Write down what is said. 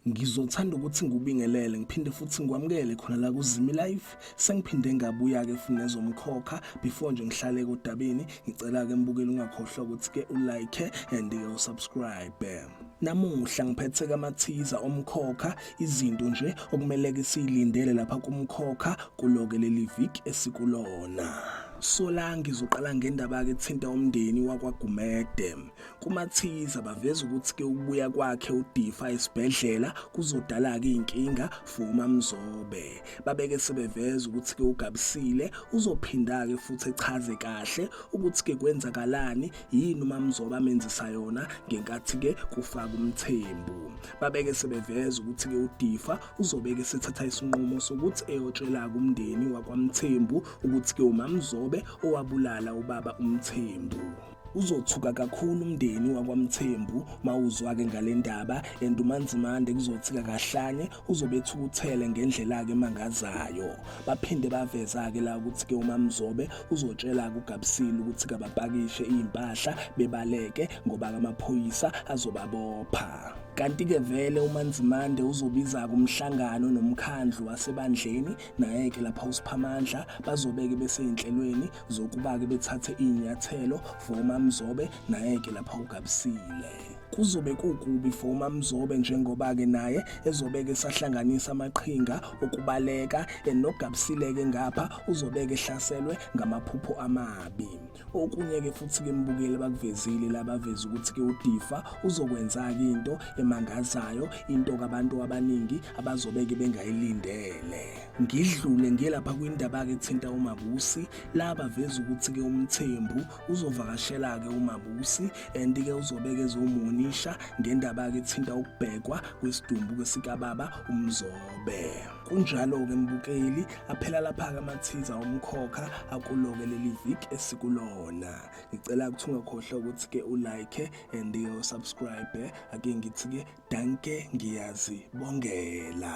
ngizothanda ukuthi ngikubingelele ngiphinde futhi ngikwamukele khona la kuzimi live sengiphinde ngabuya ke futhi nezomkhokha before nje ngihlale kodabeni ngicela ke mbukeli ungakhohlwa ukuthi ke ulike and ke usubscribe namuhla ngiphethe kamathiza omkhokha izinto nje okumele ke silindele lapha kumkhokha kuloke leli week esikulona Solange izoqala ngendaba-ke ethinta umndeni wakwaGumede. Kumathiza baveza ukuthi-ke ukubuya kwakhe uDifa esibhedlela kuzodala-ke iy'nkinga for uMamzobe. Babeke sebeveza ukuthi-ke uGabisile uzophinda-ke futhi echaze kahle ukuthi-ke kwenzakalani yini uMamzobe amenzisa yona ngenkathi-ke kufaka umthembu. Babeke sebeveza ukuthi-ke uDifa uzobeke sethatha isinqumo sokuthi eyotshela-ke umndeni wakwaMthembu ukuthi ke umamzobe owabulala ubaba umthembu uzothuka kakhulu umndeni wakwaMthembu mawuzwake ngalendaba and uManzimande kuzothika kahlanye uzobethukuthele ngendlela ke mangazayo baphinde baveza ke la ukuthi ke uMamzobe uzotshela kuGabsile ukuthi kabapakishe impahla bebaleke ngoba amaphoyisa azobabopha kanti-ke vele umanzimande uzobiza-ke umhlangano nomkhandlu wasebandleni Naye-ke lapha uSiphamandla bazobeke beseyinhlelweni zokuba-ke bethathe iy'nyathelo for uMamzobe naye-ke lapha uGabisile kuzobe kukubi for uMamzobe njengoba-ke naye ezobeke esahlanganisa amaqhinga okubaleka enoGabisile-ke ngapha uzobeke ehlaselwe ngamaphupho amabi Okunye-ke futhi-ke mbukeli bakuvezile la baveza ukuthi-ke uDifa uzokwenza-ke into emangazayo into kabantu abaningi abazobeke bengayilindele ngidlule ngiye lapha kwindaba-ke ethinta umabusi la baveza ukuthi-ke umthembu uzovakashela-ke umabusi and-ke uzobeke ezomunisha ngendaba-ke ethinta ukubhekwa kwesidumbu kesikababa umzobe Kunjalo-ke mbukeli, aphela lapha-ke amathiza omkhokha akuloke leli vik esikulona. Ngicela ukuthi ungakhohlwa ukuthi-ke ulike and usubscribe. Ake ngithi-ke danke ngiyazibongela.